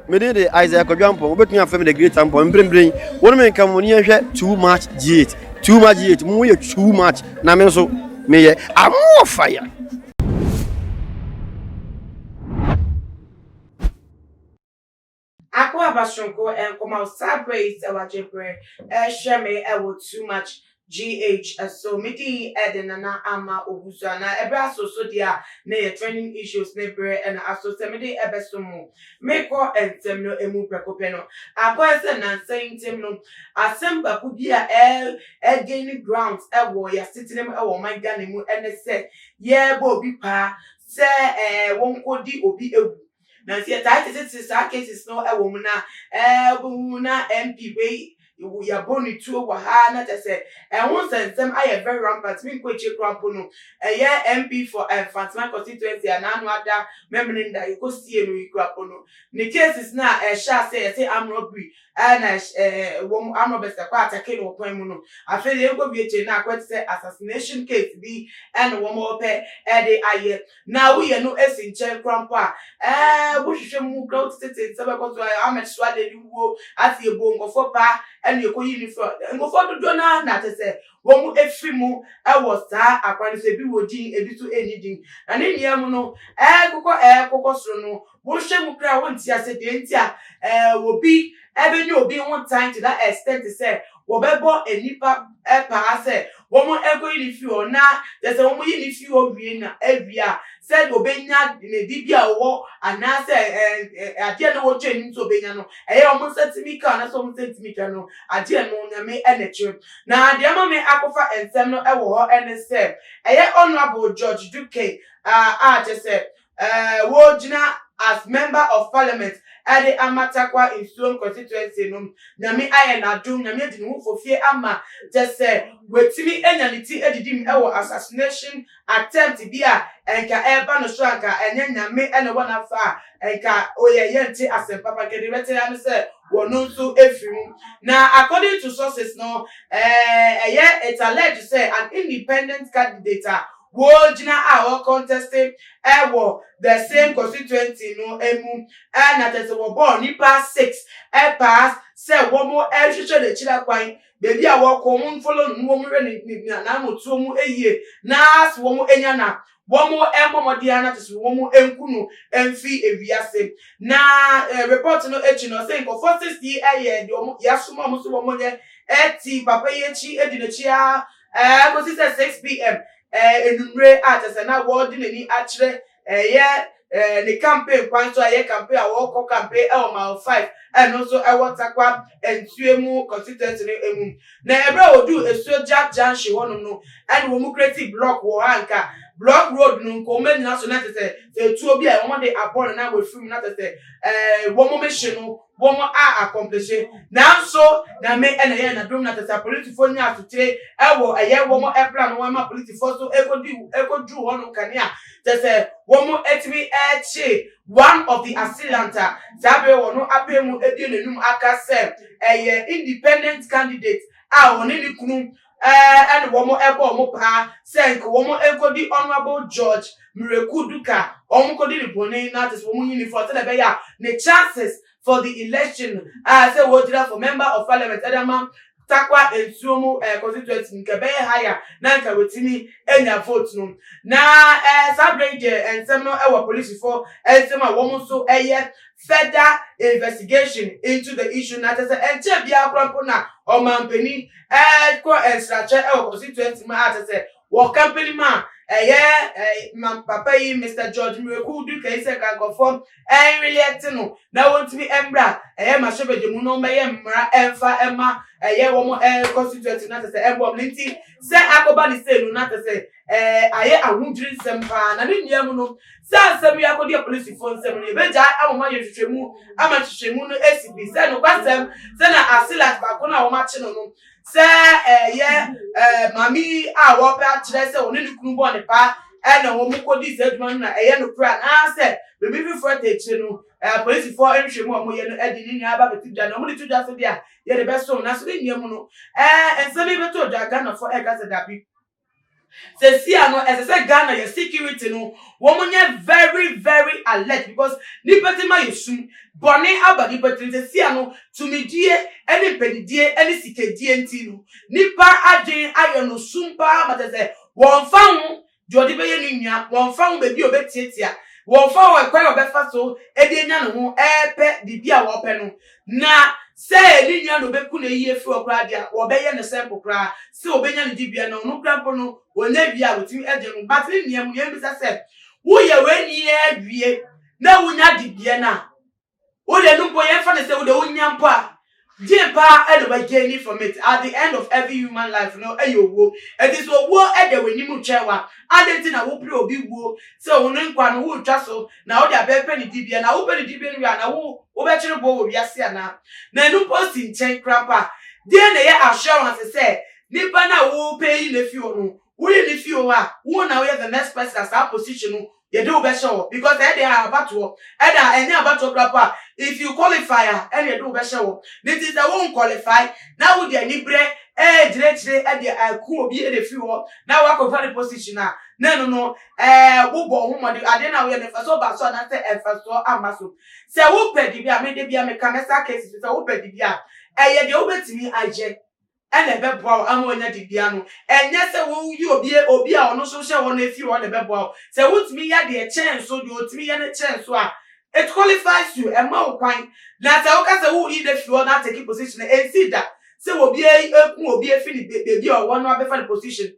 Me din de Isaiah Kwadwo Ampong, wobɛtumi afrɛ me the great Ampong. Mprempren, wo ne me nka mo ne yɛnhwɛ too much G8. Too much G8, mo yɛ too much, na me nso meyɛ amoɔ fire. Akoaba Soronko, nkɔmɔ a ɔsaa berɛ yi sɛ wagye berɛ rehwɛ me wɔ too much GH, So me din de Nana Ama Owusu anaa? Ɛberɛ aso so deɛ a na yɛ trending issues ne berɛ na aso sɛ mede bɛsom mo. Merekɔ ntɛm no ɛmu prɛko pɛ no, akɔyɛ sɛ nnansa yi ntam no, asɛm baako bi a ɛregaini grounds wɔ yɛ asetena mu wɔ ɔman Ghana mu ne sɛ yɛrebɔ obi paa sɛ wɔnkɔdi obi awu. Nanso yɛtaa tetete saa cases no wɔ mu na ɛɛ wobɛhu na MP wei yɛabɔ ne tuo wɔ ha na kyɛ sɛ ɛho nsɛnsɛm ayɛ very rampant me nkɔ akyire koraa mpo no ɛyɛ MP for Mfantseman constituency a n'ano ada mɛmene nda yɛkɔsie no yi koraa mpo no ne cases no a ɛhyɛ aseɛ yɛse armed robbery a na ɛhyɛ ɛɛ ɛwɔ mu armed robbers ɛkɔ atake no wɔ kwan mu no afei deɛ yɛnkɔ wie kyɛ na akɔ te sɛ assassination case bi ɛna wɔn ɔpɛ ɛde ayɛ na woyɛ no ɛsi nkyɛn kora mpo a ɛɛ wohwehwɛ mu kora wote tete nsa bɛkɔ so ayɛ Ahmed Suade ne wuo ate yɛbɔ nkɔfoɔ paa ɛna yɛkɔyi ne firi nkɔfoɔ dodoɔ no ara na kyɛ sɛ wɔn ɛfiri mu ɛwɔ saa akwan no so ebi wɔ din ebi nso ɛnni din na ne nyinaa mu no ɛɛkokɔ ɛɛkokɔ soro no Wohwɛ mu koraa a, wonte ase deɛ nti a obi bɛnya obi ho tan to that extent sɛ wɔbɛbɔ nnipa paa sɛ wɔnkɔyi no mfiri hɔ, na kyerɛ sɛ wɔyi no firi hɔ wie no awie a, sɛdeɛ ɔbɛnya ne dibea a ɔwɔ anaasɛ adeɛ a na wɔtwa anim sɛ ɔbɛnya no, ɛyɛ a wɔn nsa tumi ka anaasɛ wɔn nsa ntumi ka no, adeɛ no Onyame na ɛkyerɛ. Na deɛ ama me akɔfa nsɛm no wɔ hɔ ne sɛ, ɛyɛ Honourable George Duke a kyerɛ sɛ Wogyina as member of parliament de ama Tarkwa Nsuom constituency no. Nyame ayɛ no adom, Nyame adi ne ho fɔ fie ama kyɛ sɛ watumi anya ne ti adidi mu wɔ assassination attempt bi a nka ɛreba no so a nka ɛnyɛ Nyame na ɛwɔ n'afa a nka oyɛ yɛnte asɛm papa nka deɛ ɛbɛte ara ne sɛ wɔn nso afiri mu. Na according to sources no, ɛyɛ it's alleged sɛ an independent candidate a Wogyina a wɔ contest wɔ the same constituency no mu na kyerɛ sɛ wɔbɔɔ nipa six pass sɛ wɔn rehwehwɛ n'akyiri kwan baabi a wɔkɔ wɔn follow no wɔn hwɛ ne ne n'anamotuo mu yie na sɛ wɔn anya na wɔn mmɔ mmɔden ara na kyerɛ sɛ wɔn nku no mfi ewiase na report no akyi no sɛ nkɔfoɔ six yi yɛ deɛ wɔn yasoma wɔn so wɔn yɛ ɛti papa yi akyi edi n'akyi ara ɛɛ kɔsi sɛ 6pm ɛɛ anwummere a kyɛ sɛ na wɔde n'ani akyerɛ ɛyɛ ɛɛ ne campaign kwan so a ɛyɛ campaign a wɔrekɔ campaign ɛwɔ mile 5 ɛno nso ɛwɔ Takwa nsuo mu constituency no ɛmu na ɛberɛ a wɔduu esuo gya junction hɔnom no ɛne wɔn kreti block wɔ hɔ a nka block road no nka wɔn anyina so na kyɛ sɛ sɛ etuo bi a wɔde abɔ no na wɔafiri mu na kyɛ sɛ ɛɛ wɔn mehye no wɔn a akɔmplehye nanso nyame na ɛyɛ n'adom na tɛsɛ apolitifoɔ nya asokyere ɛwɔ ɛyɛ wɔn ɛpla no wɔn ma apolitifoɔ so ɛkɔdi ɛkɔduru hɔ no kanea tɛsɛ wɔn ɛtumi ɛkye one of the assailant a saa bere wɔn apɛ mu ɛbie n'anum aka sɛ ɛyɛ independent candidate a wɔne ne kunu ne wɔn bɔɔ wɔn paa sɛ nka wɔn nkɔdi Honourable George Miraku Duka a wɔkɔdi no bɔne no ate sɛ wɔn nyi no fɔ sɛdeɛ ɛbɛyɛ a ne chances for the election no a sɛ wɔgyina for Member of Parliament de ama Tarkwa Nsuo mu constituency no nka ɛbɛyɛ higher na nka watumi anya vote no. Na saa berɛ yi deɛ nsɛm no wɔ polisifoɔ nsam a wɔn nso yɛ further investigation into the issue na kyerɛ sɛ ɛnkyɛɛ biara koraa mpo na ɔmanpanin rekɔ nsrakyɛ wɔ constituency mu a kyerɛ sɛ wɔ company mu a ɛyɛ ma papa yi Mister George Miraku Dukayi sɛ nka nkurɔfoɔ ɛnweleɛ te no na wɔntumi mmra ɛyɛ mahyɛbadwa mu na wɔmmɛyɛ mmara ɛmfa ɛma ɛyɛ wɔn constituency na kyerɛ sɛ ɛmmoa wɔn nti sɛ akɔba ne sei no na kyerɛ sɛ Ɛɛ, ayɛ ahodwiri nsɛm paa, na ne nnuamu no, sɛ asɛm yi akɔdu apolisifoɔ nsam no, yɛbɛgyae ama wɔayɛ nhwehwɛmu ama nhwehwɛmu no asi pi sɛ nokwasɛm sɛ na Asilat baako no a wɔakye no no, sɛ ɛyɛ ɛɛ maame yi a wɔrepɛ akyerɛ sɛ ɔne ne kunu bɔɔ ne paa na wɔkɔdii saa adwuma no na ɛyɛ nokorɛ anaasɛ biribi foforɔ te akyire no. Ɛɛ, apolisifoɔ nhwehwɛmu a wɔyɛ no de ne nyinaa aba abɛto dwa, na wɔde to dwa so deɛ a, yɛde bɛsom, nanso ne nnuamu no, ɛɛ, nsɛm yi bɛtɔɔ dwa a, Ghanafoɔ reka sɛ dabi. Sesia no ɛsɛ sɛ Ghana yɛ security no wɔn nyɛ very very alert because nipa ti ma yɛ sum bɔne aba nipa tirim sesia no tumidie ɛne mpɛnidie ɛne sikadie nti no nipa adwen ayɛ no sum paa ma kyɛ sɛ wɔn fa ho deɛ ɔde bɛyɛ ne nua wɔn fa ho baabi a ɔbɛtiatia wɔn fa ho ɛkwan a ɔbɛfa so ɛde anya ne ho ɛɛpɛ biribi a ɔpɛ no Na sɛ ne nua na obeku no eyi efi hɔ koraa de a, wɔbɛyɛ no sɛ mpo koraa sɛ obenya ne dibea no, ɔno koraa mpo no, onnya awiei a wotumi de no. But ne nua mu no, yɛmmisa sɛ, Woyɛ w'ani ara wie na wunya dibea no a, wo deɛ no mpo yɛmfa no sɛ wo deɛ wonnya mpo a, deɛn paa na wagaini from it? At the end of every human life no, ɛyɛ owuo. Enti sɛ owuo da w'anim retwɛn wo a, adɛn nti na wopere obi wuo sɛ wo ne nkwa no woretwa so na wode abɛɛpɛ ne dibea, na wopɛ ne dibea no wie a, na wo, wobɛkyere boɔ wɔ wiase anaa? Na ɛno mpo si nkyɛn koraa mpo a, deɛn na ɛyɛ assurance sɛ nipa no a worepɛ ayi no afiri hɔ no, woyi no firi hɔ a, wo na woyɛ the next person a saa position no yɛde wo bɛhyɛ hɔ? Because ɛyɛ deɛ abatoɔ, ɛna ɛnyɛ abatoɔ koraa mpo a, if you qualify a, ɛna yɛde wo bɛhyɛ hɔ. Ne nti sɛ wo nqualify, na wode aniberɛ ɛɛkyerɛkyerɛ ɛde aku obi ɛde afiri hɔ, na woakɔfa ne position a, na ɛno no Ɛɛ, wobɔɔ ho mmɔden. Adeɛ no a woyɛ no, mfasoɔ baa so anaasɛ mfasoɔ amma so? Sɛ wopɛ de bi a, me da biara meka, mɛsa aka asi so sɛ, wopɛ de bi a, ɛyɛ deɛ wobɛtumi ayɛ na ɛbɛboa wo ama woanya de bi ano. Ɛnyɛ sɛ woyi obi obi a ɔno nso hyɛ hɔ no afiri hɔ na ɛbɛboa wo. Sɛ wotumi yɛ deɛ ɛkyɛn so, deɛ ɔtumi yɛ no kyɛn so a, it qualifies you, ɛma wo kwan. Na sɛ woka sɛ woreyi no afiri hɔ na atake position a, ɛnsii da sɛ obiara yi, ɛku obi afiri ne baabi a ɔwɔ no abɛfa no position.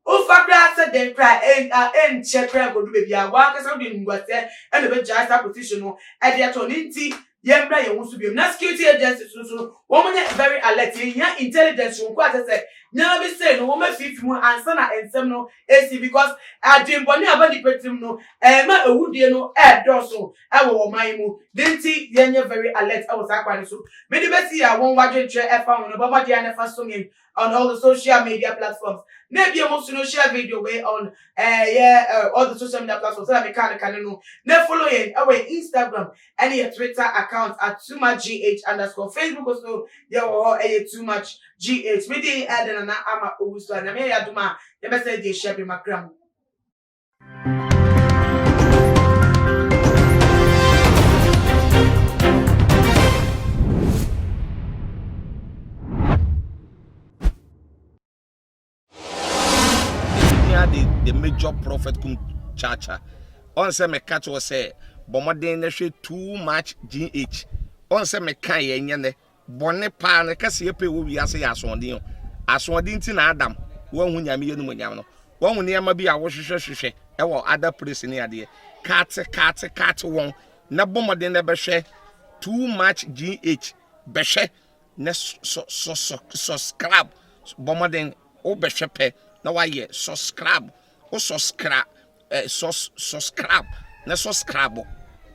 Womfa koraa sɛ dɛn koraa a ɛnkyɛ koraa nkodu baabi a w'ankasa wode animguaseɛ na ɛbɛgyae saa position no de ato hɔ no nti yɛmmra yɛn ho so biom na security agencies no nso no wɔn nyɛ very alert yɛhia intelligence soronko a kyɛ sɛ nneɛma bi sei no wɔn afiifi mu ansa na nsɛm no ɛsi because adwembɔne a ɛba nipa tirim no ɛma awudie no ɛɛdɔɔso ɛwɔ wɔn man mu de nti yɛnyɛ very alert ɛwɔ saa kwan no so mede bɛsi a wɔn wadwenkyerɛ ɛfa ho no bɔ mmɔden a na ɛfa som yɛn on all the social media platforms na ebia mo nso no share video wei on ɛyɛ eh, eh, all the social media platforms sɛdeɛ meka no kane no na follow yɛn ɛwɔ yɛn instagram ɛne yɛ twitter account at too much gh underscore facebook nso yɛwɔ hɔ ɛyɛ too much gh mede ɛde nana ama owusu a nyame yɛ adom a yɛbɛsɛ de hyɛ bi makra mu the major prophet kum chacha ɔn sɛ meka kyerɛ sɛ bɔmmɔden na hwɛ too much gh ɔn sɛ meka yɛ nyɛ nɛ Bɔne paa ne kɛseyɛ pɛ wɔ wiase yɛ asoɔden o. Asoɔden nti na Adam wanhu Nyame yɛnumonyam no. Wahu nneɛma bi a wohwehwɛ hwehwɛ wɔ other place ne adeɛ. Kate kate kate wɔn na bɔ mmɔden na bɛhwɛ too much GH bɛhwɛ na sɔ sɔ sɔ sɔskrab bɔ mmɔden wo bɛhwɛ pɛ na wayɛ sɔskrab wo sɔskra eh sɔs sɔskrab na sɔskrabo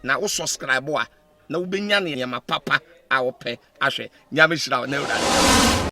na wo sɔskrabo a na wobɛnya nneɛma papa a wopɛ ahwɛ. Nyame nhyira wo na Awurade nhyira wo.